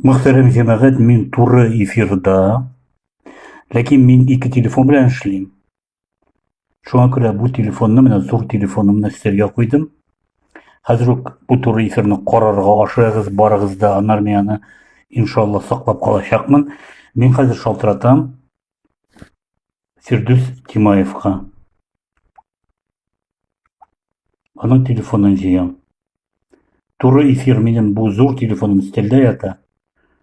Мөхтәрәм җәмәгать, мин туры эфирда, ләкин мин ике телефон белән эшлим. Шуңа күрә бу телефонны менә зур телефонымны өстәлгә куйдым. Хәзер үк бу туры эфирны карарга ашыгыз, барыгыз да, аннары мин аны иншалла саклап калачакмын. Мин хәзер шалтыратам. Фирдүс Тимаевка. Аның телефонын җыям. Туры эфир минем бу зур телефоным стелдә ята.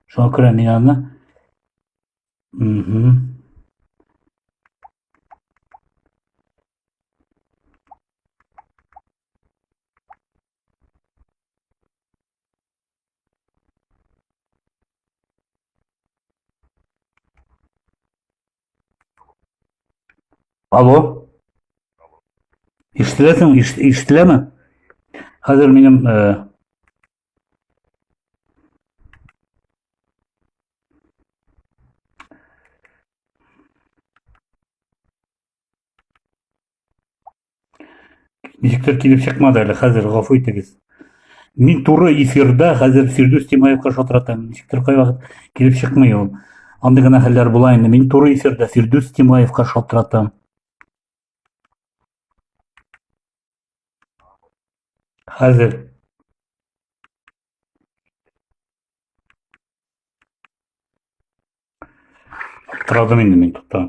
Шуңа күрә мин аны Угу. Алло. Ишетеләсең, ишетеләме? Хәзер минем э, Ничектер килеп чыкмады әле хәзер, гафу итегез. Мин туры эфирда хәзер Фирдүс Тимаевка шалтыратам. Ничектер кайвакыт килеп чыкмый ул. Андый гына хәлләр була инде. Мин туры эфирда Фирдүс Тимаевка шалтыратам. Хәзер Традым инде мин тукта.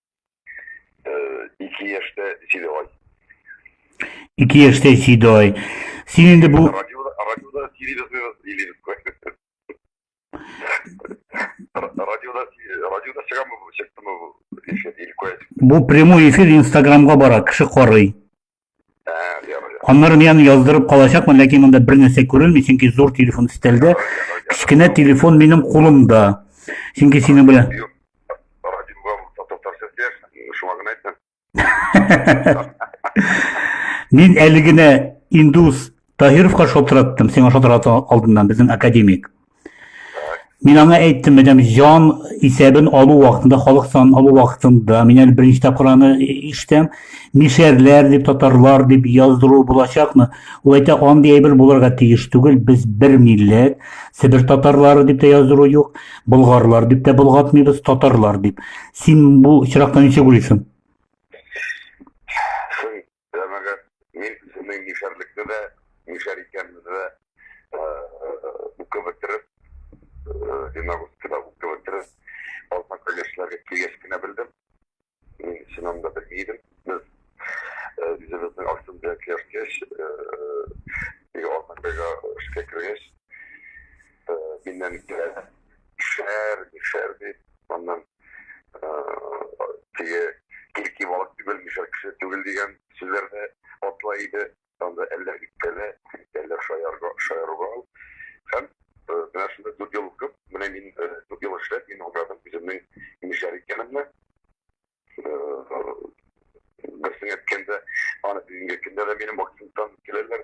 Ике яшьтә Седой. Ике яшьтә Седой. Син инде бу... Радиода, радиода Сиридос Илидос. Радиода, радиода чыгамы, чыктымы, Бу прямой эфир Инстаграмга бара, кеше карый. Аннары мин аны яздырып калачакмын, ләкин монда бер нәрсә күренми, чөнки зур телефон өстәлдә, кечкенә телефон минем кулымда. Чөнки сине белән Мин әле генә индус Таһировка шалтыраттым, сиңа шалтырата алдыннан безнең академик. Мин аңа әйттем, мәдәм җан исәбен алу вакытында, халык санын алу вакытында, мин әле беренче тапкыр аны ишетәм, мишәрләр дип, татарлар дип яздыру булачакмы? Ул әйтә, андый әйбер булырга тиеш түгел, без бер милләт, Себер татарлары дип тә яздыру юк, болгарлар дип тә болгатмыйбыз, татарлар дип. Син бу чирактан ничек уйлыйсың? Җәмәгать, мин үземнең мишәрлекне дә, мишәр икәнне дә укып бетереп, Динагурскида укып бетереп, Алматка яшьләргә килгәч кенә белдем. Мин чыннан да белми идем. Без үзебезнең Аксунда яшәгәч, Алматка эшкә кергәч, миннән килә шәһәр, шәһәр дип, аннан теге кирки балык түгел, мишәр кеше түгел дигән сүзләрне атла иде. Анда әллә үпкәле, әллә шаярга, шаярга. Һәм менә шунда дүрт ел укып, менә мин дүрт ел эшләп, мин аңладым үземнең мишәр икәнемне. Берсен әйткәндә, аны бүгенге көндә дә минем вакытымдан киләләр.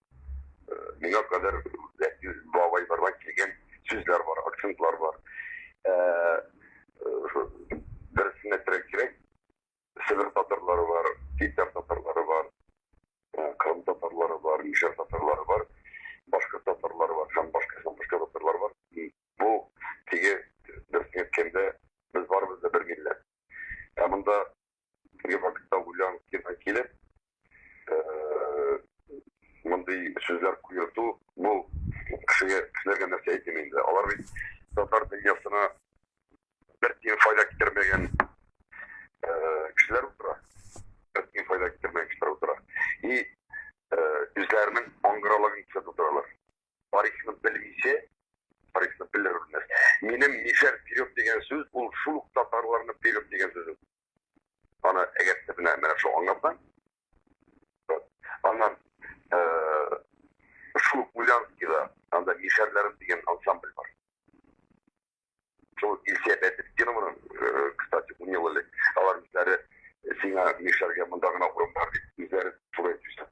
миңа кадәр бабай бардан килгән сүзләр бар, акцентлар бар. Э, э, Берсенә терәк кирәк, Себер татарлары бар, Питер татарлары бар, э, Крым татарлары бар, Мишер татарлары бар, башка татарлары бар, һәм башка һәм башка татарлар бар. Бу теге берсенә әйткәндә без барыбыз да бер милләт. Ә монда Теге вакытта Улян киргә килеп, мондый сүзләр куерту, бу кешегә, кешеләргә нәрсә әйтим инде. Алар бит татар дөньясына бер тиен файда китермәгән кешеләр утыра. Бер тиен файда китермәгән кешеләр утыра. И үзләренең аңгыралыгын күрсәтеп утыралар. тарихны белмичә, тарихны белер белмәс. Минем мишәр вперед дигән сүз, ул шул ук татарларны вперед дигән сүз. Аны әгәр дә менә менә шул аңлатам. Аннан шул Гулянскийда анда мишәрләрем дигән ансамбль бар. Шул Илсия Бәдетдинованың, кстати, унел элек алар үзләре сиңа мишәргә монда гына урын бар дип үзләре туры әйтүчән.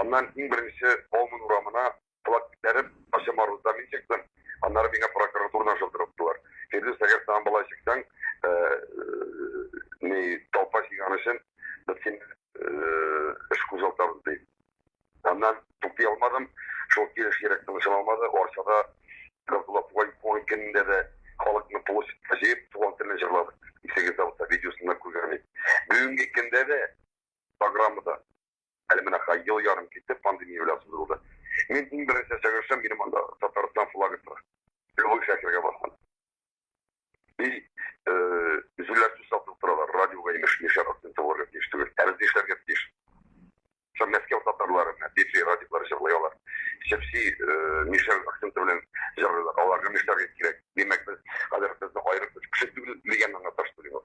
Аннан иң беренче Бауман урамына флаг күтәреп, Качамар рузда мин чыктым. Аннары миңа прокуратурадан шылтырып тотылар. Фирдүс, әгәр саң бала чыксаң, э, э, ни толпа чыган өчен без син э, эш кузгалтабыз ди. Аннан туктый алмадым. Шул килеш йөрәк тынышын алмады. Арчада Габдулла Тугай туган көнендә дә халыкны площадька җыеп туган телен җырладык. Исегездә булса видеосын да күргән идек. Бүгенге көндә дә программада Әле менә һай ел ярым китеп пандемия белән сындырылды. Мин иң беренче чыгышым минем анда Татарстан флагы тора. Любой шәһәргә барсаң. И җилләр сүз сатып торалар, радиога имеш яшәр акцент булырга тиеш түгел. Ә без нишләргә тиеш? Шул Мәскәү татарлары менә диджей радиолар җырлый алар. Чепси мишәр акценты белән җырлыйлар. Аларга нишләргә кирәк? Димәк, без хәзер безне аерып үз кеше түгел дигән аңлаташ түгел.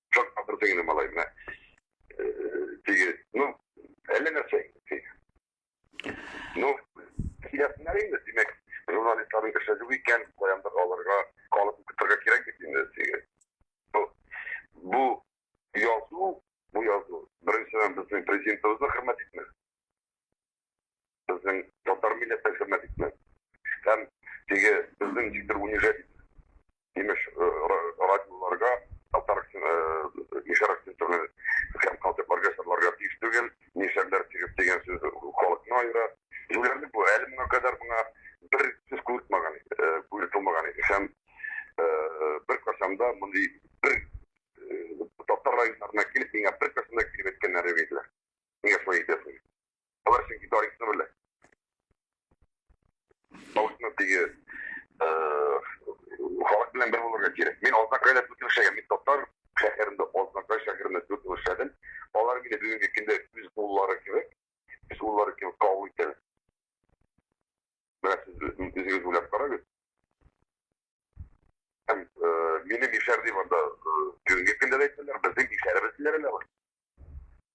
Чак атырдың инде, малай, менә. Теге, ну, әллә нәрсә инде. Ну, киләсеннәр инде, димәк, журналистларның эше юк икән, каяндыр алырга, калып көтергә кирәк бит инде теге. Бу, бу язу, бу язу, беренчедән безнең президентыбызны хөрмәт итмәс. безнең татар милләте хезмәт итмәс. Һәм теге безнең никтер унижать имеш э, радиоларга, татар мишәр акцентлы һәм калдыкларга сырларга тиеш түгел, мишәрләр тигез дигән сүз халыкны аера. Юләрлек бу, әле моңа кадәр моңа бер сүз күрмәгән, э, күрмәгән иде. Һәм э, бер кашанда мондый бер татар районнарына килеп, миңа бер кашанда килеп әйткәннәре бит. Нигә шулай итәсең? Алар чөнки тарихны белә. Халыкны теге халык белән бер булырга кирәк. Мин Азнакайда дүрт ел эшләгән. Мин татар шәһәрендә, Азнакай шәһәрендә дүрт ел эшләдем. Алар мине бүгенге көндә үз уллары кебек, үз уллары кебек кабул итәләр. Менә сез үзегез уйлап карагыз. Һәм минем ишәр дип анда бүгенге көндә дә әйтәләр, безнең ишәребез диләр әле алар.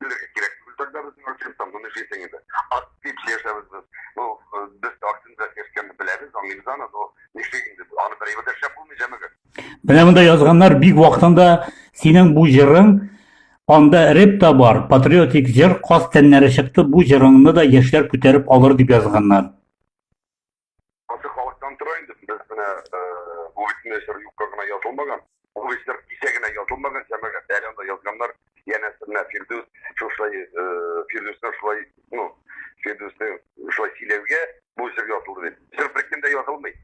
Белергә кирәк. Бездә безнең артистта моны җитен иде. Ат дип яшәбез без. Бу без артында яшәгән беләбез, аңлыйбыз аны, но нишли инде. Аны бер ибәр шәп булмый җәмәгә. Менә монда язганнар бик вакытында синең бу җырың анда реп та бар, патриотик җыр, каз тәннәре чыкты, бу җырыңны да яшьләр күтәреп алыр дип язганнар. Аты халыктан тора инде. Без менә бүлгесенә чыр юкка гына язылмаган. Ул эшләр кисә генә язылмаган, җәмәгать әле анда язганнар. Янәсе менә Фирдүс шушай Фирдүсне шулай, ну, Фирдүсне шулай сөйләүгә бу җыр язылды дип. Җыр беркемдә язылмый.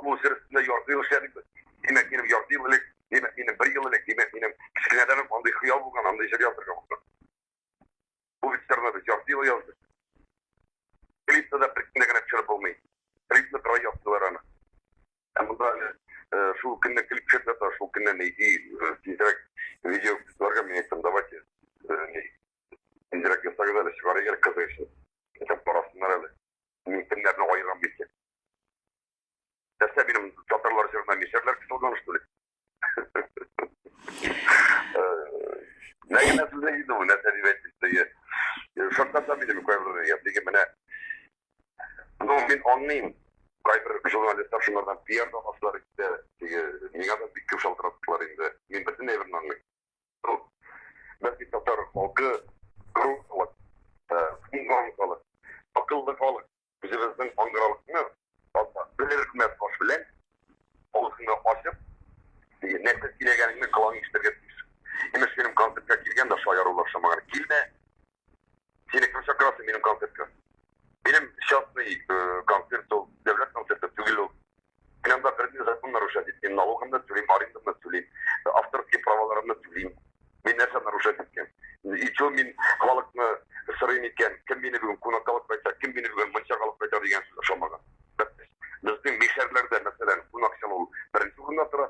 Бу җыр өстендә ярты ел эшләдек без. Димәк, минем ярты ел элек, димәк, минем бер ел элек, димәк, минем кечкенәдән үк андый хыял булган, андый җыр язарга булган. Бу вечерлар ярты ел язды. Клипта да беркемдә генә төшереп булмый. Клипны берай яптылар аны. Ә монда шул көнне клип төшердә та шул көнне нейди тизрәк видео кызларга мен әйттем, давайте тизрәк ясагыз әле, чыгарыгыз әле кызы өчен. Итеп карасыннар әле. Мин кемнәрне аерам бит. нәрсә минем татарлар җырына мишәрләр кысылган что ли нәрсә сүзе иде ул нәрсә дип әйтте шарттан да минем кайбер япиге менә ну мин аңлыйм кайбер журналистлар шулардан пиар да басалар инде теге миңа да бик күп шалтыраттылар инде мин бөтен әйберне аңлыйм ну бәлки татар халкы грузлы акыллы халык үзебезнең аңгыраулыкны белерекмәс баш белән авызыңны ачып, нәрсә сөйләгәнеңне колаң ишетергә тиеш. Имеш, минем концертка килгән дә шаярулар шамаган. Килмә. Сине кем чакырасы минем концертка? Минем частный концерт ул, дәүләт концерты түгел ул. Мин анда берни закон нарушать итмим, налогымны түлим, арендамны түлим, авторские праваларымны түлим. Мин нәрсә нарушать иткән? Ичо мин халыкны сырыйм икән, кем мине бүген кунакка алып кайта, кем мине бүген мунчага алып кайта дигән сүз ошамаган. Безнең мишәрләрдә, мәсәлән, кунак чалу беренче урында тора.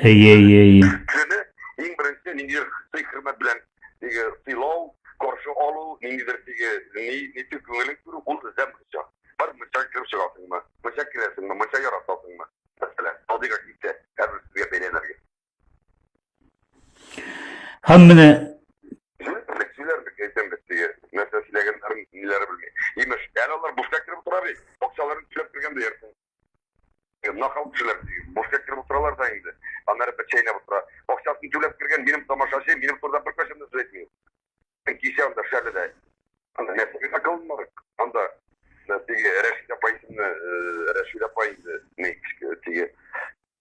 Әйе, әйе, әйе. Кешене иң беренче ниндидер сый хөрмәт белән теге сыйлау, каршы алу, ниндидер теге ни ничек күңелен күрү, ул эзләп мунча. Бар мунча кереп чыгасыңмы, мунча керәсеңме, мунча яратасыңмы? Мәсәлән, алдыга китә, хәзер сезгә бәйләнергә. Һәм менә Сөйләрбез, әйтәмбез теге, нәрсә сөйләгәннәрен, ниләре белми. Имеш, әле алар буфка кереп утыра бит, акчаларын түләп кергән диярсең. Нахал кешеләр бушка кереп утыралар да инде. Аннары бер чәйнәп утыра. Акчасын түләп кергән минем тамашачы, минем турыда бер кашын да сүз әйтми. Кичә анда шәледә. Анда нәрсә акылмар. Анда теге Рәшидә Пайсымны, Рәшидә Пайны, не, теге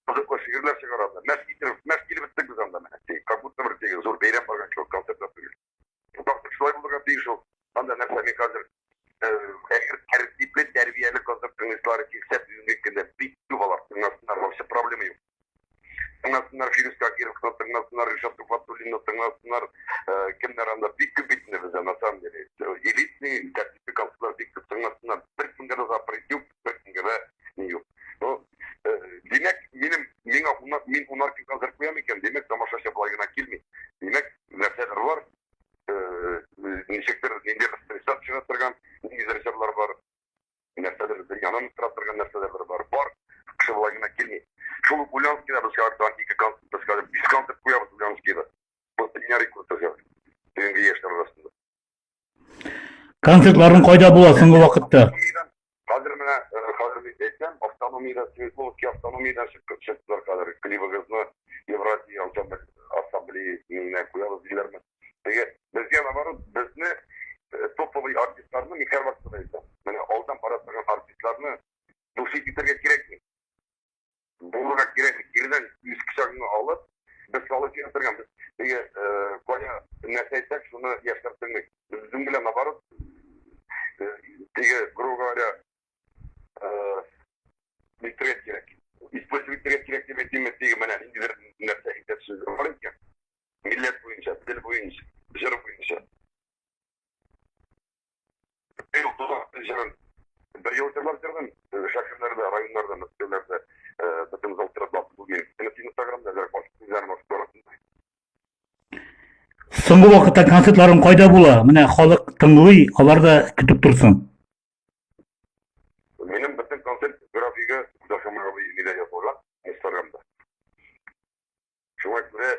кызыклы шигырьләр чыгаралар. Мәш китереп, мәш килеп беттек без анда менә. Как будто бер теге зур бәйрәм барган кебек концерт Тактык шулай булырга тиеш ул. Анда нәрсә мин хәзер әгәр тәртипле, тәрбияле концерт тыңлыйсылары килсә, бүгенге көндә бик күп алар тыңласыннар, вообще проблема юк. Тыңласыннар Фирүз Кагировны, тыңласыннар Ришат Туфатуллинны, тыңласыннар кемнәр анда бик күп бит инде бездә, на самом деле. Элитный, тәртипле концертлар бик күп тыңласыннар. Бер кемгә дә запрет юк. беркемгә дә ни юк. Ну, э, димәк, минем миңа унар, мин унар ким хәзер куям икән, димәк, тамашачы болай гына килми. Димәк, нәрсәдер бар, э, э, ничектер, нинди бер стресс чыга торган, нинди режиссерлар бар, нәрсәдер дөньяны тора торган нәрсәдер бар. Бар, кеше болай гына килми. Шул ук Ульянскида без артан ике концерт, без хәзер биш концерт куябыз Ульянскида. Бу дөнья рекорды хәзер. Бүгенге яшьләр арасында. Концертларың кайда була соңгы вакытта? Хәзер менә э, хәзер бит әйтәм, автономиядә Светловский автономиядә чыгып чыктылар хәзер. Клибыгызны Евразия ассамблеясына куябыз диләрме? Теге безгә наоборот безне э, топовый артистларны Михаил Васильевич. Менә алдан бара торган артистларны души китергә кирәкми. Булырга кирәк бит. Кирдән үз кочагыңа алып, без салып яшәргән. Без теге кая нәрсә әйтсәк, шуны яшьләр белмик. Без үзем белән наоборот. Теге, грубо говоря, битрек кирәк. Использовать кирәк кирәк дип әйтимме, теге менә ниндидер нәрсә әйтә сүз бар икән. Милләт буенча, тел буенча, җыр буенча. Бер ел җырлар җырдым, шәһәрләрдә, районнарда, мәктәпләрдә, бөтен зал тирәләп бүген. Син Инстаграмда да баш күзләр баш барасың. Соңгы вакытта концертларың кайда була? Менә халык тыңлый, алар да көтеп торсын. Минем бөтен концерт графигы Дашамрабый Миләя булган Инстаграмда. Шуңа күрә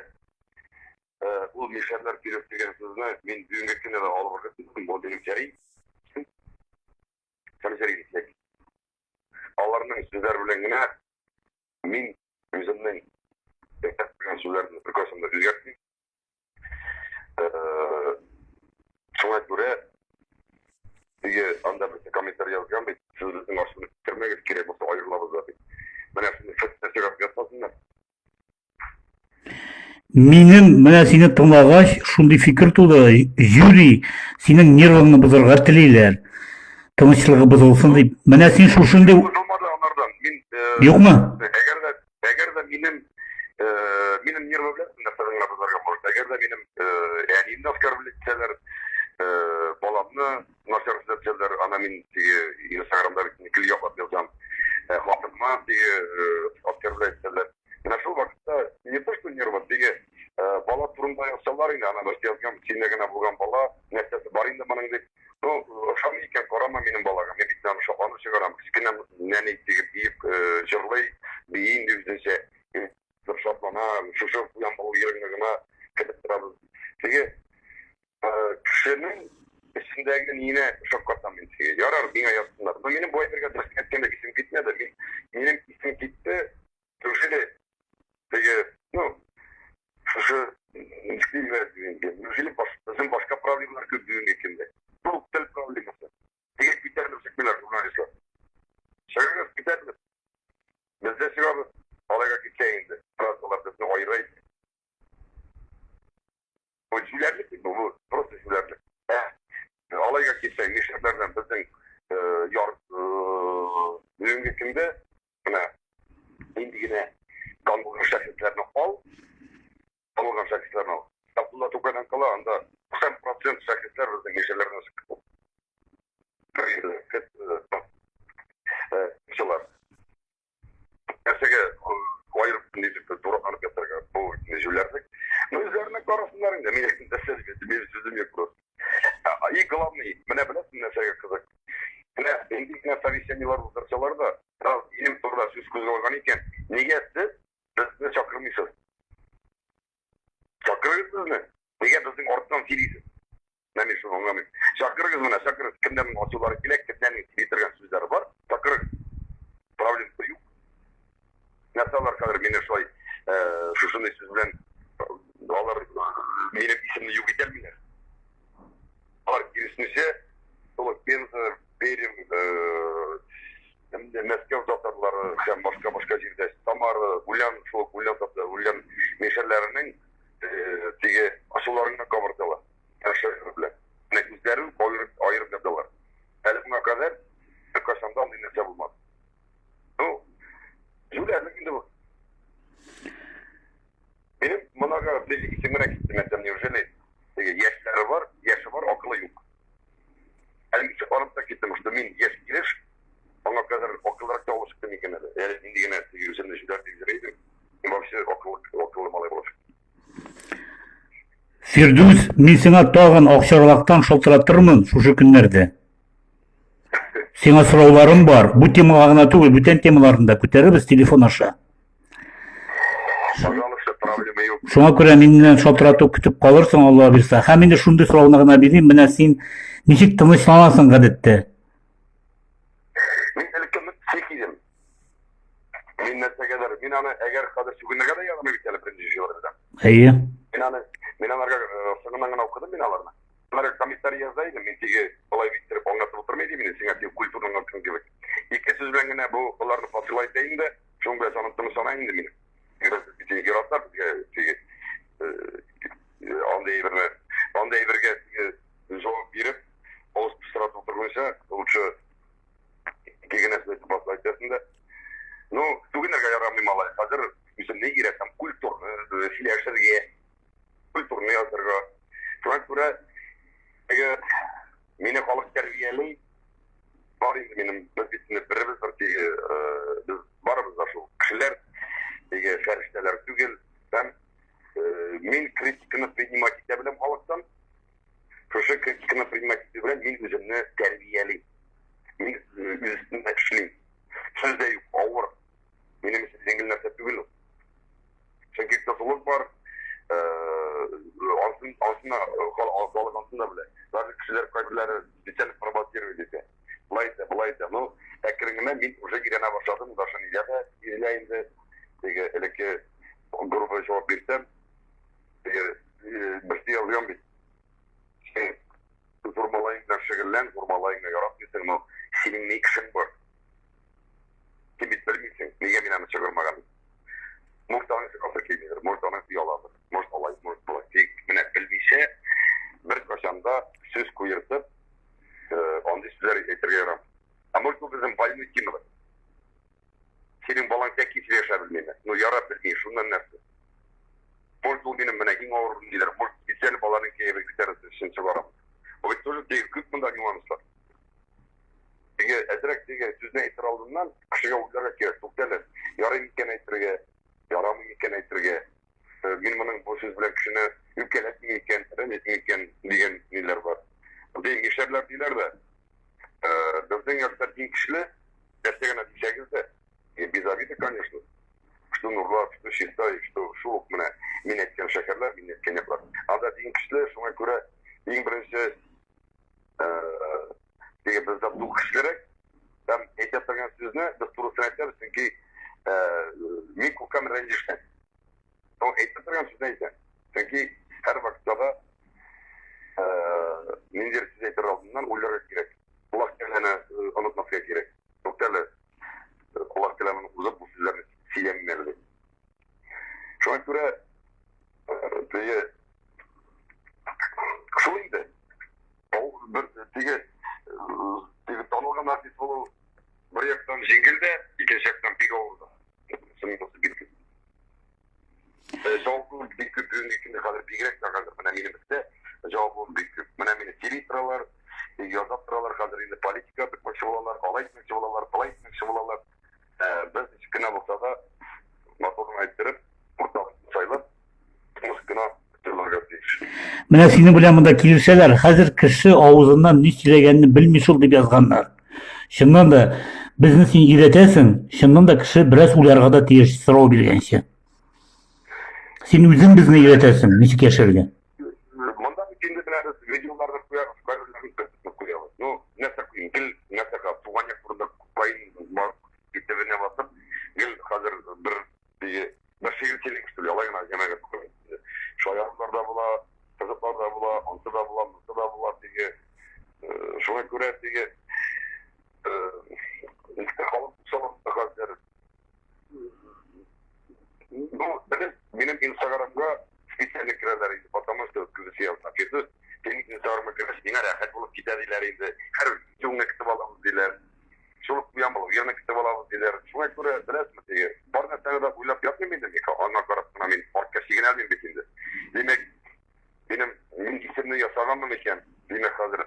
ул мишәрләр кирәк дигән сүзне мин бүгенге көндә дә алып барган бу дигән чәй. Сәмсәри дисәк. Аларның сүзләр белән генә мин үземнең яшәп белгән сүзләрне бер касымда үзгәртмим. Минем менә сине тыңлагач, шундый фикер туды, Юрий, синең нервыңны бозарга телиләр. Тынычлыгы бозылсын дип. Менә син шушындый Юкмы? Әгәр дә Әгәр дә минем минем нервы белән нәрсә генә бозарга может. Әгәр дә минем әниемне оскорблять итсәләр, баламны начар сөйләсәләр, ана мин теге Инстаграмда бит гел яклап язам. Хатыныма теге оскорблять итсәләр. Менә шул вакытта не то что нервы, теге бала турында язсалар инде, ана бер язган, синдә генә булган бала, нәрсәсе бар инде моның дип. Ну, ошамый икән, карама минем балага. Мин бит аны шакланып чыгарам. Кечкенә нәни итеп биеп, җырлый, бии инде үзенчә. Бер шатлана, шушы уян булу йөрәгенә генә килеп торабыз. Теге кешенең эчендәге нине шаккатам мин теге. Ярар, миңа язсыннар. Но минем бу әйтергә дөрес әйткәндә исем китмәде. Мин, минем исем китте, Неужели теге, ну, шушы килмәс инде. Неужели безнең башка проблемалар күп бүгенге көндә? Бу тел проблемасы. Теге китәрбез киләр журналистлар. Чыгыгыз китәрбез. Без дә чыгабыз. Алайга китсә инде. Фразалар безне айрай. Бу җүләрлек бит бу, просто җүләрлек. Ә, алайга китсә, нишләрләрдән безнең яр бүгенге көндә менә нинди генә танылган шәхесләрне ал, танылган шәхесләрне ал. Абдулла Тукайдан кала анда 90 процент шәхесләр безнең яшьләрне сыктылар. Нәрсәгә аерып нитеп дураканып ятарга, бу җүләрне. Ну, үзләренә карасыннар инде, мин нәрсә дим, мин сүзем юк просто. Ә, и главный, менә беләсең нәрсәгә кызык? Менә нинди генә совещаниелар уздырсалар да, раз минем турыда сүз кузгалган икән, нигә сез безне чакырмыйсыз? Чакырыгыз безне. Нигә безнең арттан сөйлисез? Менә мин шуны аңламыйм. Чакырыгыз менә, чакырыгыз. Кемнәрнең ачулары килә, кемнәрнең сөйли торган сүзләре бар, чакырыгыз. Проблемасы юк. Нәрсә алар хәзер мине шулай шушындый сүз белән алар минем исемне юк итәлмиләр. Алар киресенчә, шул Пенза, Пермь, Мәскәү татарлары һәм башка башка җирдә Самара, Гулян, шул Гулян татар, Гулян мишәрләренең теге асуларына кабырдылар. Нәрсә белән? Менә үзләрен аерып аерып яталар. Әле моңа кадәр кайчан да андый нәрсә булмады. Ну, җүләрне инде бу. Минем монага бер исемрәк киттем, әйтәм, неужели? Яшьләре бар, яше бар, акылы юк. Әле ничек арып та киттем, что мин яшь килеш, аңа кадәр акыллырак та алып чыктым икән әле. Әле нинди генә үземне җүләр дип йөрәйдем. Мин вообще акыллы, акыллы малай булып чыктым. Фирдүс, мин сиңа тагын акчарлактан шалтыратырмын шушы көннәрдә. Сиңа сорауларым бар. Бу темага гына түгел, бүтән темаларны да күтәрәбез телефон аша. Пожалуйста, проблема юк. Шуңа күрә миннән шалтырату көтеп калырсың, Алла бирса. Һәм инде шундый сорауны гына бирим, менә син ничек тынычланасың гадәттә? Мин нәрсәгәдер, мин аны әгәр хәзер сүгенергә дә ягымый бит әле беренче җыелыр белән. Әйе. Мин аны, мин аларга э, соңыннан гына укыдым мин аларны. Алар комментарий яза идем, мин теге болай биттереп аңлатып утырмый идем инде, сиңа теге культурның артын кебек. Ике сүз белән генә бу аларны фасыла итә инде, шуның белән санын тынып сана инде мин. Без бит инде яратар безгә теге э, э, андый әйберне, андый әйбергә теге җавап биреп, авыз пыстыратып утырганча, лучше Кигенәсен әйтеп басып әйтәсен дә. Ну, түгенергә ярамый малай. Хәзер үземне иретәм культурны э, сөйләшергә, культурны язырга. Шуңа күрә теге мине халык тәрбияли, бар инде минем без бит инде беребез бер теге э, без барыбыз да шул кешеләр теге фәрештәләр түгел һәм э, мин критиканы принимать итә беләм халыктан Шушы критиканы принимать итү белән мин үземне тәрбиялим. Мин үземне эшлим. Сүз дә юк, авыр. Минем өчен җиңел нәрсә түгел ул. Чөнки кызулык бар, алтын алтына халык алтына белә. Даже кешеләр кайберләре специально провоцирует итә. Болай да, болай да. Ну, әкренләп мин уже өйрәнә башладым, даже нигә дә бирелә инде. Теге элекке грубо җавап бирсәм, Берсе язган бит. Зур малайың белән шөгыльлән, зур малайыңны яратмыйсың, но синең ни эшең бар? Син бит белмисең, нигә мин аны чыгармаган? Может, аның чыгасы килмидер, может, аның ояладыр, может, алай, может, болай. Тик менә белмичә, беркайчан да сүз куертып, андый сүзләр әйтергә ярамый. Ә может, ул безнең больной темалар. Синең балаң тәк кисеп яшәп белмиме? Ну, ярап белми, шуннан нәрсә? Может, ул минем менә иң авыр ниндидер, может, специаль баланың кәефен күтәрәсе өчен чыгарам. Бу бит тоже бик күп монда нюанслар. Теге әзрәк теге сүзне әйтер алдыннан, кешегә уйларга кирәк, туктале, ярый микән әйтергә, ярамый микән әйтергә. Мин моның бу сүз белән кешене үпкәләтми икән, рәнҗетми икән дигән ниләр бар. Ди, нишләрләр диләр дә. Безнең яшьтә иң көчле, нәрсә генә дисәгез дә, без обиды, конечно. Что нурлар, что чиста, что шул ук менә мин әйткән шәһәрләр, мин әйткән яклар. Анда иң көчле, шуңа күрә иң беренче Теге без дә бу кешелерәк. Һәм әйтә торган сүзне без турысын әйтәбез, чөнки мин күпкәм рәнҗешкән. Ул әйтә торган сүзне әйтә. Чөнки һәр вакытта да ниндидер сүз әйтер алдыннан уйларга кирәк. Колак тәләне онытмаска кирәк. Туктале, колак тәләмен узып, бу сүзләрне сөйләмим әле. Шуңа күрә теге шул инде. Ул бер теге теге танылган артист булу бер яктан җиңел дә, икенче яктан бик авыр да. Җавабым бик күп бүгенге көндә хәзер бигрәк тә хәзер менә минем өстә җавабым бик күп. Менә мине сөйли торалар, яза торалар хәзер инде политика бик мәшһүр булалар, алай мәшһүр булалар, былай мәшһүр булалар. Без кенә булса да, моторын әйттереп, уртак сайлап, тыныш кына торырга тиеш. Менә синең белән монда килешәләр. Хәзер кеше авызыннан ни сөйләгәнне белми шул дип язганнар. Чыннан да безне син өйрәтәсең, чыннан да кеше бераз уйларга да тиеш сорау биргәнче. Син үзең безне өйрәтәсең, ничек яшәргә. Монда бит инде беләбез, видеолар да куябыз, кайберләрен төртеп куябыз. Ну, нәрсә куйым, гел нәрсә кал, туган як турында куйм, итебенә басып, гел хәзер бер теге бер шигырь килеп китте, алай гына җәмәгать куйды. Шаярулар да була, кызыклар да була, ансы да була, монсы да була теге. Шуңа күрә теге халык салам хәзер Ну, белем, минем инстаграмга специально керәләр инде, потому что күзесе язма. Фирдүс, синең инстаграмга керәсе, миңа рәхәт булып китә диләр инде. Һәр видеоңны көтеп аламыз диләр. Шул куям ул, яны көтеп алабыз диләр. Шуңа күрә беләсме теге, бар нәрсәне дә уйлап ятмыйм инде, Мика, аңа карап кына мин артка чигенәлмим бит инде. Димәк, минем мин исемне ясаганмын икән, димәк хәзер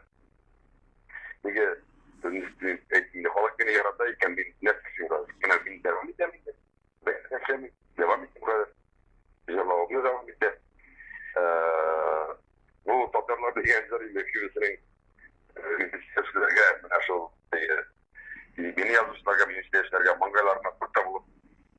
Нигә әйтмиләр? Халык мине ярата икән, мин нәрсә өчен газ? Менә мин дәвам итәм инде. Бәйрәм эшләми, дәвам итәм газ. Җырлавымны дәвам итә. Бу татарлар дигән җыр инде киресенең репетиторларга менә шул. Мин язучыларга, мин яшьләргә маңгайларына пырта булып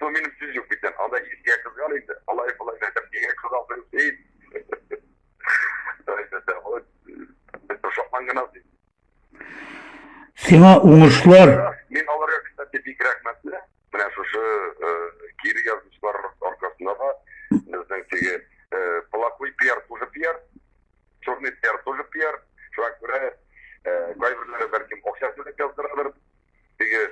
Бу минем сүз юк бит, анда искә кызган инде, алай булай да бигә кызган бер сей. Сиңа уңышлар. Мин аларга кстати бик рәхмәтле. Менә шушы кире язмышлар аркасында да безнең теге плохой пиар тоже пиар, черный пиар тоже пиар. Шуңа күрә кайберләре бәлкем акча түләп яздыралар. Теге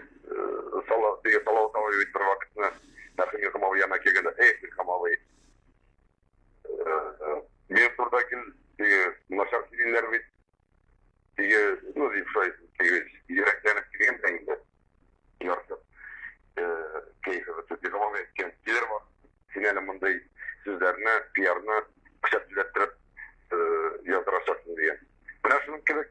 сала, теге салавы табай бит бер вакытны Мәхим Михамовый яна килгәндә, эх, Михамовый, мин турда кил, теге начар килгәннәр бит, теге, ну, дип шулай, теге, йөрәкләнеп килгән дә инде, ярсып, кәефе бетеп, Михамовый әйткән, килер бар, син әле мондый сүзләрне, пиарны пычак җиләттереп яздырачаксың дигән. Менә шуның кебек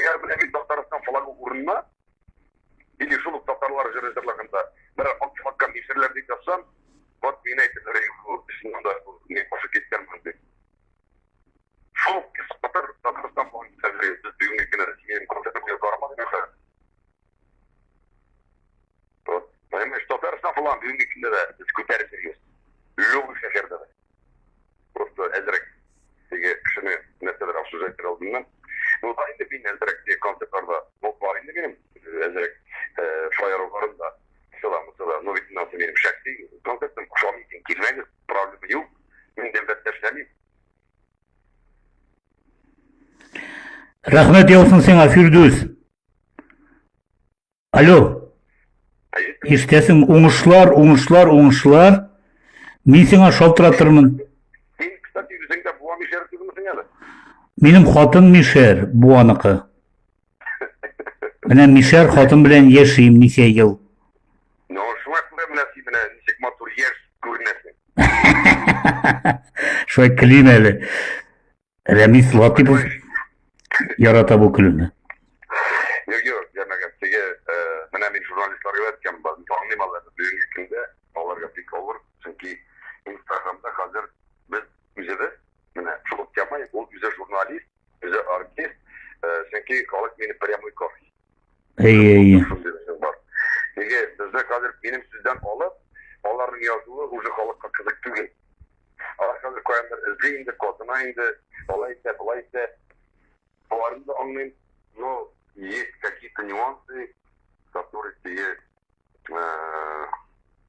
Әгәр менә бит Татарстан флагы урынына или шул ук татарлар җыры җырлаганда берәр акча аккан ишерләр дип язсам, вот мин әйтеп рейв чыннан да не кошып киткән монда. Шул кисатыр Татарстан флагы ишерләр без бүгенге көне Россиянең концертына бармадык хәзер. Вот. Менә Татарстан флагы бүгенге көндә дә без күтәреп йөрибез. Любой шәһәрдә дә. Просто әзрәк теге кешене нәрсәдер сүз әйтер алдыннан. Ну, да инде мин әзрәк теге концертларда булып бар инде минем әзрәк шаяруларым да сыламы сыла. Ну, бит мынасы минем шәхси концертым, ошамый икән килмәгез, проблема юк. Мин дәүләттә эшләмим. Рәхмәт яусын сиңа, Фирдүс. Алло. Иртәсең уңышлар, уңышлар, уңышлар. Мин сиңа шалтыратырмын. Мин, кстати, үзеңдә буа мишәр түгелмесең әле? Минем хатын мишәр, буаныкы. Менә мишәр хатын белән яшим ничә ел. Ну, шуңа күрә менә син менә ничек матур яшь күренәсең. Шулай көлим әле. Рәмис Латипов ярата бу көлүне. Юк, юк, җәмәгать, теге, э, менә мин журналистларга әйткән барын таңлыйм алар бүгенге көндә, аларга бик авыр, чөнки Инстаграмда хәзер без үзебез, менә шул тема, ул үзе журналист, үзе артист, э, чөнки халык мине прямой кофе. Әйе, әйе. Неге бездә хәзер минем сүздән алып, аларның язуы уже халыкка кызык түгел. Алар хәзер каяндыр эзли инде, катына инде, алай итә, болай итә. Аларны да аңлыйм, но есть какие-то нюансы, которые тебе э,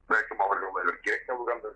бәлкем аларга алайлар кирәк тә булгандыр.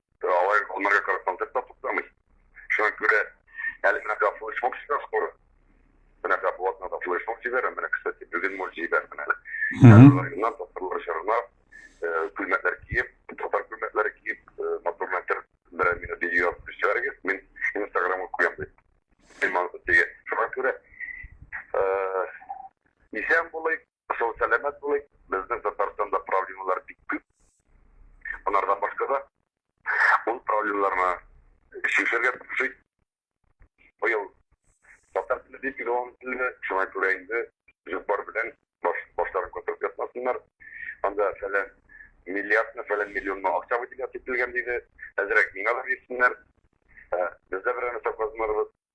Алар аларга карап концерт та туктамый. Шуңа күрә әле менә гафу исмок сигар скоро. Менә гафу атна да флеш исмок сигар, менә, кстати, бүген мол сигар менә. Районнан татарлар чарынар, күлмәкләр киеп, татар күлмәкләре киеп, матур мәтер берәр минут видео язып төшерәгез, мин инстаграмга куям дип. Мин моны диге. Шуңа күрә исән булыйк, Сау сәламәт булыйк. Безнең Татарстанда проблемалар бик күп. Монардан башка да ул проблемаларны чишергә тырышыйк. Быел татар теле бик юан теле, шуңа күрә инде җыпар белән баш, башларын күтәреп ятмасыннар. Анда фәлән миллиардны, фәлән миллионны акча выделять ителгән диде. Әзрәк миңа да бирсеннәр. Бездә берәр нәрсә казынырбыз.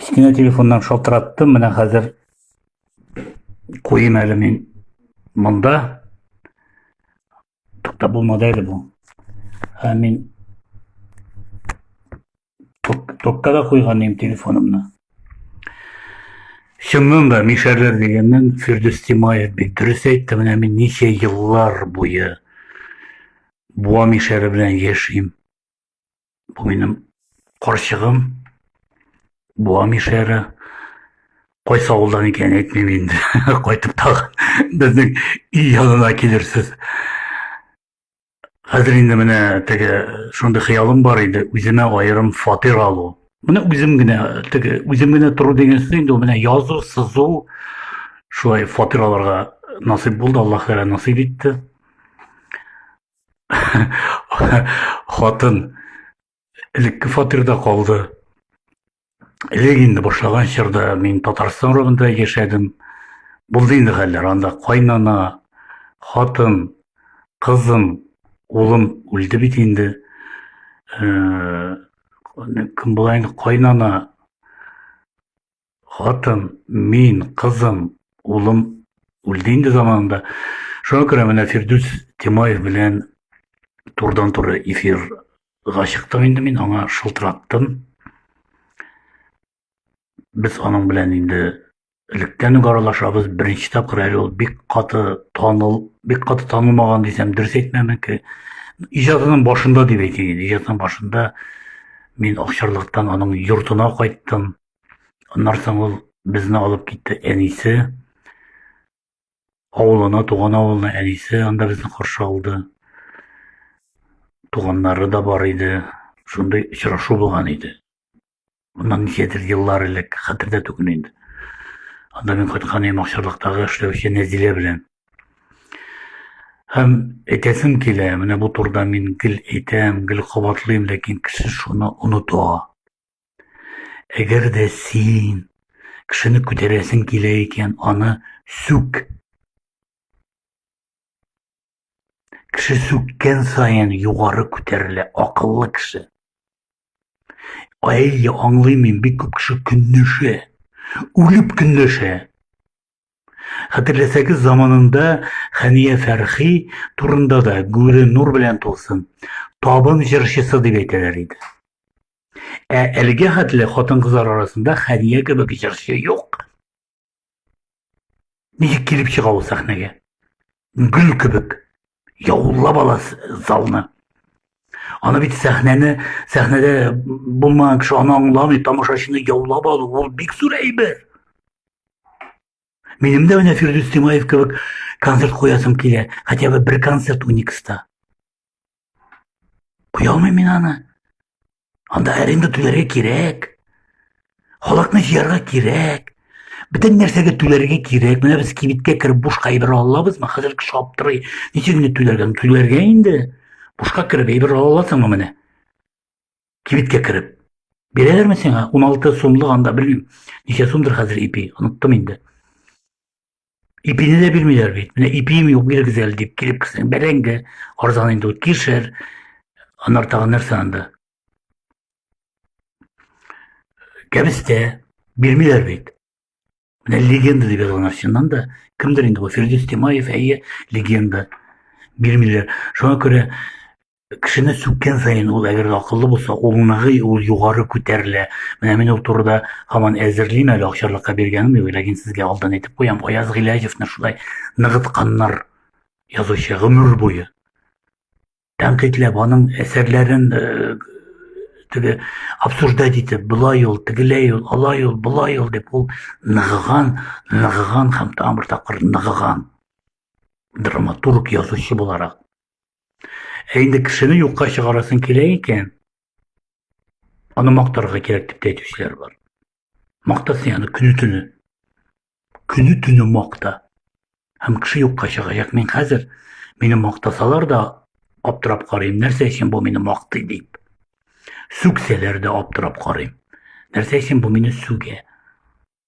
кечкенә телефоннан шалтыраттым менә хәзер куйым әле мин монда тукта булмады әле бу ә мин токка да куйган идем телефонымны чыннан да мишәрләр дигәннән фирдүс тимаев бит дөрес әйтте менә мин ничә еллар буе буа мишәре белән яшим Бу минем карчыгым. Бу Амишәре. Кайсы авылдан икәнен әйтмим инде. Кайтып тагы безнең өй янына килерсез. Хәзер инде менә теге шундый хыялым бар иде, үземә аерым фатир алу. Менә үзем генә теге үзем генә тору дигәнсе инде менә язу, сызу шулай фатир алырга насыйп булды, Аллаһ Тәгалә насыйп итте. хатын элекке фатирда калды элек инде башлаган чорда мин татарстан районында яшәдем булды инде хәлләр анда кайнана хатын кызым улым үлде бит инде э, кем була инде кайнана хатын, мин, кызым, улым үлде инде заманында. Шуңа күрә менә Фирдүс Тимаев белән турыдан-туры эфирга чыктым инде мин, аңа шылтыраттым. Без аның белән инде электән үк аралашабыз. Беренче тапкыр әле ул бик каты таныл, бик каты танылмаган дисәм, дөрес әйтмәмен ки, иҗатының башында дип әйтәйин, иҗатының башында мин Акчарлыктан аның йортына кайттым. Аннан соң ул безне алып китте әнисе авылына, туган авылына әнисе анда безне каршы алды. Туганнары да бар иде. Шундый очрашу булган иде. Моннан ничәдер еллар элек, хәтердә түгел инде. Анда мин кайткан идем Акчарлыктагы эшләүче Нәзилә белән. Һәм әйтәсем килә, менә бу турыда мин гел әйтәм, гел кабатлыйм, ләкин кеше шуны оныта. Әгәр дә син кешене күтәрәсең килә икән, аны сүк. Кеше сүккән саен югары күтәрелә акыллы кеше. Әйе, аңлыйм мин, бик күп кеше көнләшә, үлеп көнләшә. Хәтерләсәгез, заманында Хәния Фәрхи турында да гүре нур белән тулсын, табын җырчысы дип әйтәләр иде. Ә әлегә хәтле хатын-кызлар арасында Хәния кебек җырчы юк. Ничек килеп чыга ул сәхнәгә? Гөл кебек, яулап ала залны аны бит сәхнәне сәхнәдә булмаган кеше аны аңламый тамашачыны яулап алу ул бик зур әйбер минем дә менә фирдүс тимаев кебек концерт куясым килә хотя бы бер концерт уникста куя алмыйм мин аны Анда аренда түләргә кирәк. Халыкны җыярга кирәк. Бөтен нәрсәгә түләргә кирәк. Менә без кибеткә кереп бушка әйбер ала алабызмы? Хәзер кеше аптырый. Ничек инде түләргә? Түләргә инде. Бушка кереп әйбер ала аласыңмы менә? Кибеткә кереп. Бирәләрме сиңа? 16 сумлык анда белмим. Ничә сумдыр хәзер ипи? Оныттым инде. Ипине дә бирмиләр бит. Менә ипием юк, бирегез әле дип килеп керсәң, бәрәңге, арзан инде ул кишер, аннар тагын нәрсә анда. Кәбестә бирмиләр бит. Менә легенда дип язылган чыннан да, кемдер инде бу Фирдүс Тимаев, әйе, легенда бирмиләр. Шуңа күрә кешене сүккән саен ул әгәр акыллы булса улныгы ул югары күтәрелә менә мин ул турыда һаман әзерлим әле акчарлыкка биргәнем юк ләкин сезгә алдан әйтеп куям аяз гыйләҗевны шулай ныгытканнар язучы гомер буе тәнкыйтьләп аның әсәрләрен э, теге обсуждать итеп былай ул тегеләй ул алай ул былай ул дип ул ныгыган ныгыган һәм тагын бер тапкыр ныгыган драматург язучы буларак Ә инде кешене юкка чыгарасың килә икән, аны мактарга кирәк дип әйтүчеләр бар. Мактасын яны көне-төне. Көне-төне макта. Һәм кеше юкка чыгачак. Мин хәзер мине мактасалар да аптырап карыйм, нәрсә өчен бу мине мактый дип. Сүксәләр дә аптырап карыйм. Нәрсә өчен бу мине сүгә?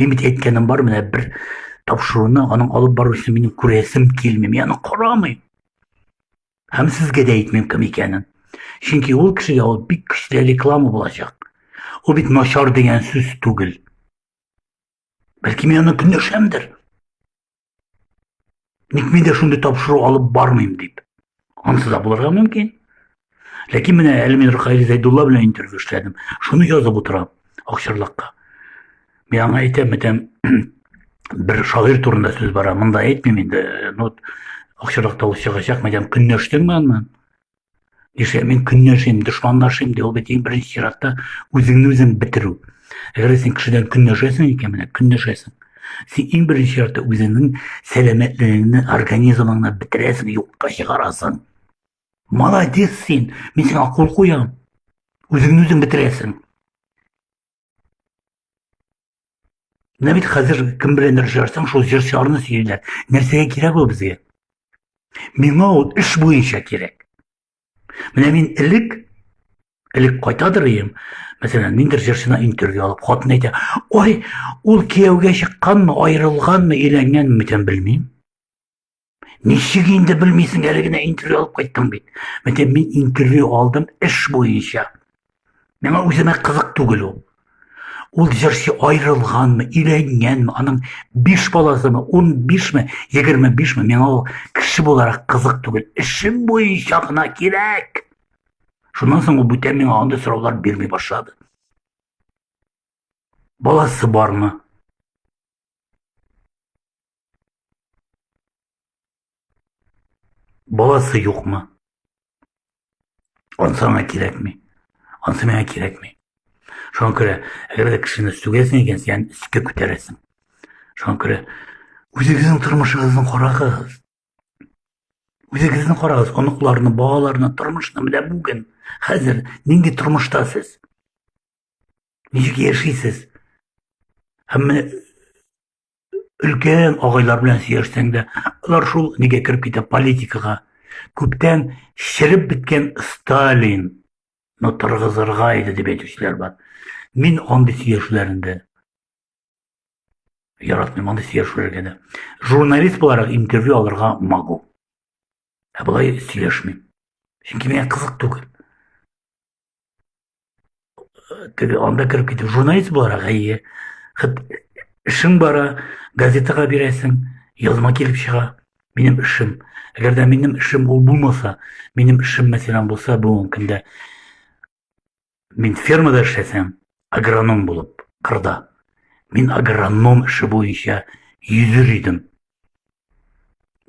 Мин бит әйткәнем бар, менә бер тапшыруны аның алып баручысын минем күрәсем килми. Мин аны карамыйм. Һәм сезгә дә әйтмим кем икәнен. Чөнки ул кешегә ул бик көчле реклама булачак. Ул бит начар дигән сүз түгел. Бәлки мин аны көнләшәмдер. Ник мин дә шундый тапшыру алып бармыйм дип. Ансы да булырга мөмкин. Ләкин менә әле мин Рухаил Зәйдулла белән интервью эшләдем. Шуны язып утырам Акчарлакка. Мин аңа әйтәм, әйтәм, бер шагыйрь турында сүз бара. Монда әйтмим инде. Ну, Акчарлакта ул чыгачак, мәдәм көнләштеңме аннан? Нишләп мин көнләшим, дошманлашим ди, ул бит иң беренче чиратта үзеңне үзең бетерү. Әгәр син кешедән көнләшәсең икән, менә көнләшәсең. Син иң беренче чиратта үзеңнең сәламәтлегеңне, организмыңны бетерәсең, юкка чыгарасың. Молодец син, мин сиңа кул куям. Үзеңне үзең бетерәсең. Менә бит хәзер кем беләндер җырсаң, шул җырчыларны сөйлиләр. Нәрсәгә кирәк ул безгә? Миңа ул эш буенча кирәк. Менә мин элек элек кайтадыр ием, мәсәлән, ниндер җырчына интервью алып, хатын әйтә, ой, ул кияүгә чыкканмы, аерылганмы, өйләнгәнме икән белмим. Ничек инде белмисең, әле генә интервью алып кайттың бит. Мәтә мин интервью алдым эш буенча. Миңа үземә кызык түгел ул. Ул җырчы аерылганмы, өйләнгәнме, аның 5 баласымы, 15 ме, 25 ме, миңа ул кеше буларак кызык түгел. Эшем буенча гына кирәк. Шуннан соң ул бүтән миңа андый сораулар бирми башлады. Баласы бармы? Баласы юкмы? Ансы аңа кирәкми. Ансы миңа кирәкми. Шуңа күрә, әгәр дә кешене сүгәсең икән, син өскә күтәрәсең. Шуңа күрә үзегезнең тормышыгызны карагыз. Үзегезне карагыз, оныкларны, балаларны, тормышны менә бүген, хәзер нинди тормышта сез? Ничек яшисез? Һәм менә өлкән агайлар белән сөйләшсәң дә алар шул нигә кереп китә политикага күптән череп беткән сталин но торгызырга иде дип әйтүчеләр бар мин андый сөйләшүләрендә яратмыйм андый сөйләшүләргә дә журналист буларак интервью алырга могу ә болай сөйләшмим чөнки миңа кызык түгел теге анда кереп китеп журналист буларак әйе эшең бара газетага бирәсең язма килеп чыга минем эшем әгәр дә минем эшем ул булмаса минем эшем мәсәлән булса бүгенге көндә мин фермада эшләсәм агроном булып кырда мин агроном эше буенча йөзер идем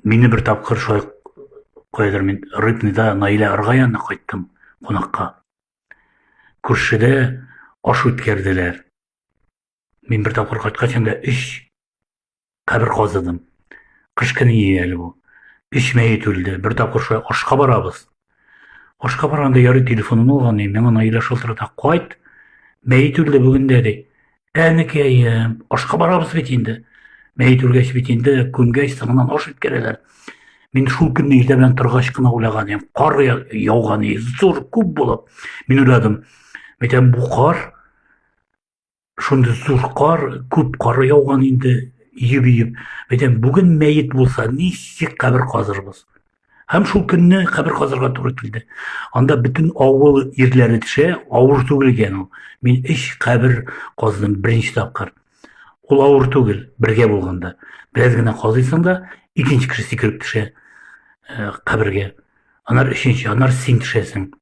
Мине бер тапкыр шулай кайдыр мин Рыбныйда Наилә Арга янына кайттым кунакка. Күршедә аш үткәрделәр. Мин бер тапкыр кайткач инде өч кабер казыдым. Кыш көне иде әле бу. Өч мәет үлде. Бер тапкыр шулай ашка барабыз. Ашка барганда ярый телефонын алган, миңа Наилә шалтырата, кайт, мәет үлде бүген дә, ди. Әнекәем, ашка барабыз бит инде. Мәет үлгәч бит инде, күмгәч, соңыннан аш үткәрәләр. Мин шул көнне иртә белән торгач кына уйлаган идем. Кар яуган иде, зур, күп булып. Мин уйладым, мәйтәм, бу кар шундый зур кар, күп кар яуган инде, иеп-иеп. Әйтәм, бүген мәет булса, ничек кабер казырбыз? Һәм шул көнне кабер казырга туры килде. Анда бөтен авыл ирләре төшә, авыр түгел икән ул. Мин өч кабер каздым беренче тапкыр. Ул авыр түгел, бергә булганда. Бераз генә казыйсың да, икенче кеше сикереп төшә э, кабергә. Анар өченче, анар син төшәсең.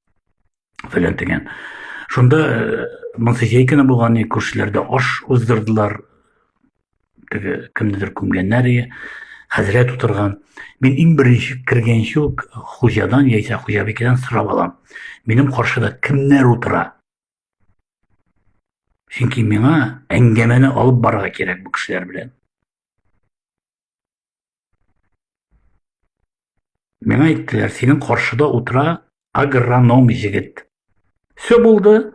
фәлән дигән. Шунда э, Монсехейкина булган күршеләрдә аш уздырдылар. Теге кемнедер күмгәннәр ие. Хәзрәт утырган. Мин иң беренче кергәнче үк хуҗадан яисә хуҗабикәдән сорап алам. Минем каршыда кемнәр утыра? Чөнки миңа әңгәмәне алып барырга кирәк бу кешеләр белән. Миңа әйттеләр, синең каршыда утыра агроном җегет. Все булды.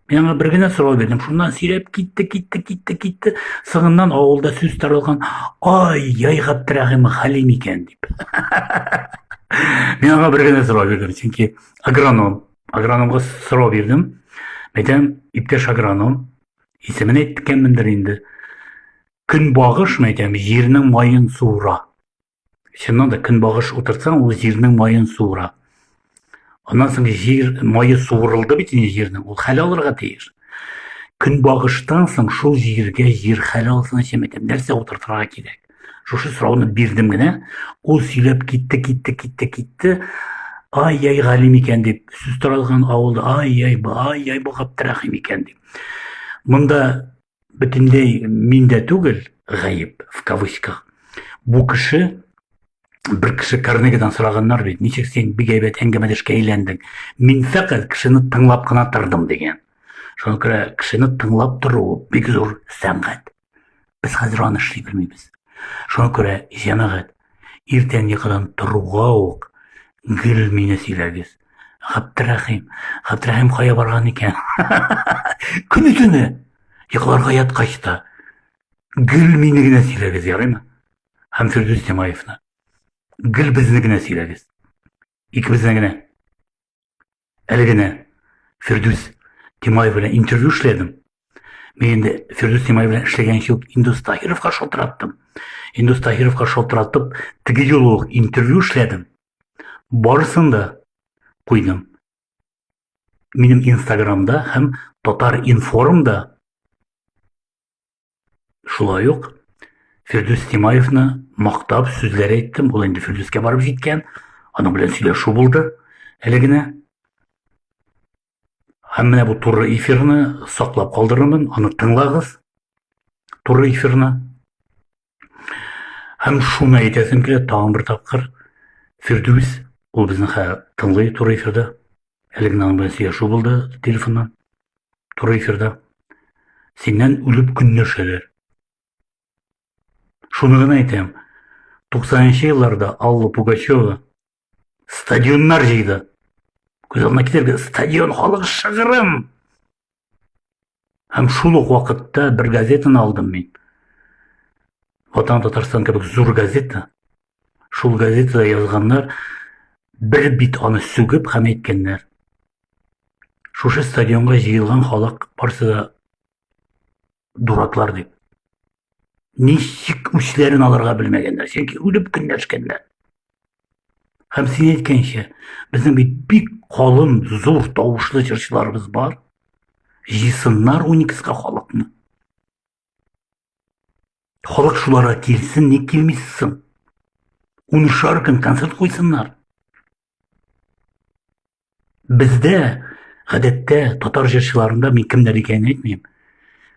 Миңа бер генә сорау бирдем. Шуннан сөйләп китте, китте, китте, китте. Сыңыннан авылда сүз таралган. Ай, яй Габдрәхим Хәлим икән дип. Миңа бер генә сорау бирдем, чөнки агроном. Агрономга сорау бирдем. Әйтәм, иптәш агроном, исемен әйткәнмендер инде. Көнбагыш, мин әйтәм, җирнең маен суыра. Чыннан да көнбагыш утыртсаң, ул җирнең маен суыра. Аннан соң җир мае суырылды бит инде җирнең, ул хәл алырга тиеш. Көнбагыштан соң шул җиргә җир хәл алсын өчен әйтәм, нәрсә утыртырга кирәк? Шушы сорауны бирдем генә, ул сөйләп китте, китте, китте, китте. Ай-яй галим икән дип, сүз таралган авылда ай-яй, ай-яй бу Габдрәхим икән дип. Монда бөтенләй мин дә түгел гаеп в кавычках бу кеше бер кеше карнегадан сораганнар бит ничек син бик әйбәт әңгәмәдәшкә әйләндең мин фәкать кешене тыңлап кына тордым дигән шуңа күрә кешене тыңлап тору бик зур сәнгать без хәзер аны эшли белмибез шуңа күрә җәмәгать Иртәнлекран торуга ук гел мине сөйләгез. Габдрәхим, Габдрәхим кая барган икән? Көне төне йокларга яткач та гел мине генә сөйләгез, ярыймы? Һәм Фирдүс Тимаевны. Гел безне генә сөйләгез. Икебезнең генә. Әле генә Фирдүс Тимаев белән интервью эшләдем. Мин инде Фирдүс Тимаев белән эшләгән юк, Индус Таһировка шалтыраттым. Индус Таһировка шалтыратып, теге юлы ук интервью эшләдем. Барысын да куйдым. Минем Инстаграмда һәм Татар информда Шулай ук Фирдүс Тимаевны мактап сүзләр әйттем. Ул инде Фирдүскә барып җиткән. Аның белән сөйләшү булды әле генә. Һәм менә бу туры эфирны саклап калдырырмын. Аны тыңлагыз. Туры эфирны. Һәм шуны әйтәсем килә тагын бер тапкыр. Фирдүс, ул безне хәзер тыңлый туры эфирда. Әле генә аның белән сөйләшү булды телефоннан, туры эфирда. Синнән үлеп көнләшәләр. Шуны гына әйтәм, 90-нчы елларда Алла Пугачева стадионнар җыйды. Күз алдына китерергә, стадион халык шыгырым! Һәм шул ук вакытта бер газетаны алдым мин. Ватан Татарстан кебек зур газета. Шул газетада язганнар бер бит аны сүгеп һәм әйткәннәр. Шушы стадионга җыелган халык барсы да дураклар дип. ничек үчләрен алырга белмәгәннәр чөнки үлеп көнләшкәннәр һәм син әйткәнчә безнең бит бик калын зур тавышлы җырчыларыбыз бар җыйсыннар уникска халыкны халык шуларга килсен ник килмисең унышар көн концерт куйсыннар Бездә, гадәттә, татар җырчыларында мин кемнәр икәнен әйтмим.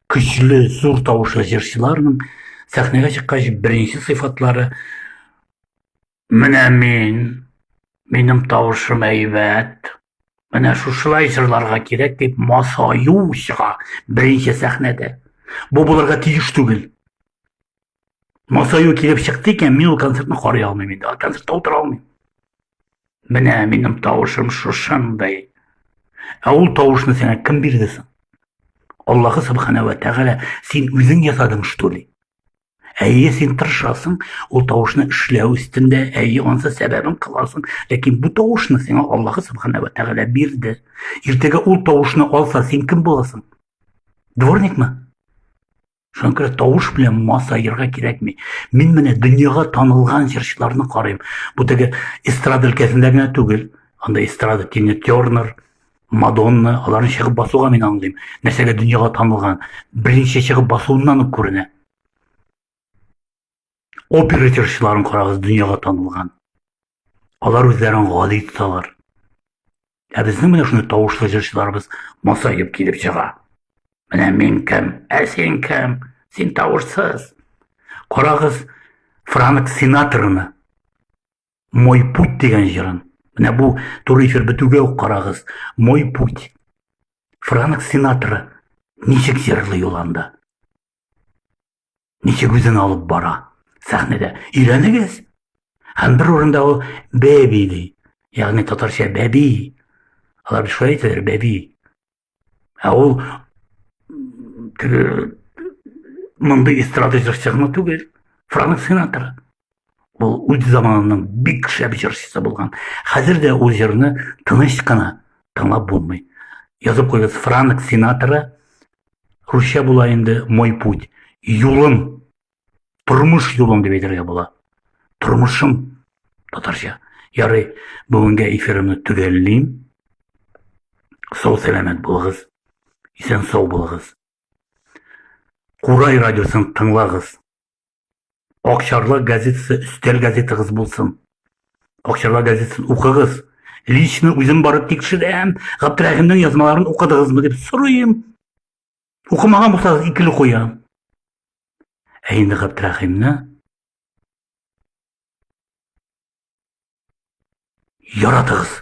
Көчле, зур тавышлы җырчыларның сәхнәгә чыккач беренче сыйфатлары менә мин, минем тавышым әйбәт, менә шушылай җырларга кирәк дип масаю чыга беренче сәхнәдә. Бу булырга тиеш түгел. Масаю килеп чыкты икән, мин ул концертны карый алмыйм инде. Ул концертта утыра алмыйм. Менә минем тавышым шушындай. Ә ул тавышны сиңа кем бирде соң? Аллаһы субхана ва тәгалә син үзең ясадың что ли? Әйе, син тырышасың, ул тавышны эшләү өстендә, әйе, ансы сәбәбен кыласың, ләкин бу тавышны сиңа Аллаһы субхана ва тәгалә бирде. Иртәгә ул тавышны алса, син кем буласың? Дворникмы? Шуңа күрә тавыш белән масаерга кирәкми. Мин менә дөньяга танылган җырчыларны карыйм. Бу теге эстрада өлкәсендә генә түгел. Анда эстрада Тина Тернер, Мадонна, аларны чыгып басуга мин аңлыйм. Нәрсәгә дөньяга танылган? Беренче чыгып басуыннан ук күренә. Опера җырчыларын карагыз, дөньяга танылган. Алар үзләрен гади тоталар. Ә безнең менә шундый тавышлы җырчыларыбыз масаеп килеп чыга. Менә мин кем, ә син кем? Син тавышсыз. Карагыз, Франк Синатраны Мой путь дигән җырын. Менә бу туры эфир бетүгә үк карагыз. Мой путь. Франк Синатра ничек җырлый ул анда? ничек үзен алып бара сәхнәдә. Өйрәнегез. Һәм бер урында ул бәби ди. Ягъни татарча бәби. Алар шулай әйтәләр бәби. Ә ул мондый эстрада җырчы гына түгел, Франк Синатра. Ул үз заманының бик шәп җырчысы булган. Хәзер дә ул җырны тыныч кына тыңлап булмый. Язып куйгыз Франк Синатра русча була инде Мой путь. Юлым. Тормыш юлым дип әйтергә була. Тормышым татарча. Ярый, бүгенгә эфирымны төгәллим. Сау сәламәт булыгыз. Исән сау булыгыз. Курай радиосын тыңлагыз. Акчарлак газетасы өстәл газетагыз булсын. Акчарлак газетасын укыгыз. Лично үзем барып тикшерәм, Габдрәхимнең язмаларын укыдыгызмы дип сорыйм. Укымаган булсагыз икеле куям. Ә инде Габдрәхимне яратыгыз.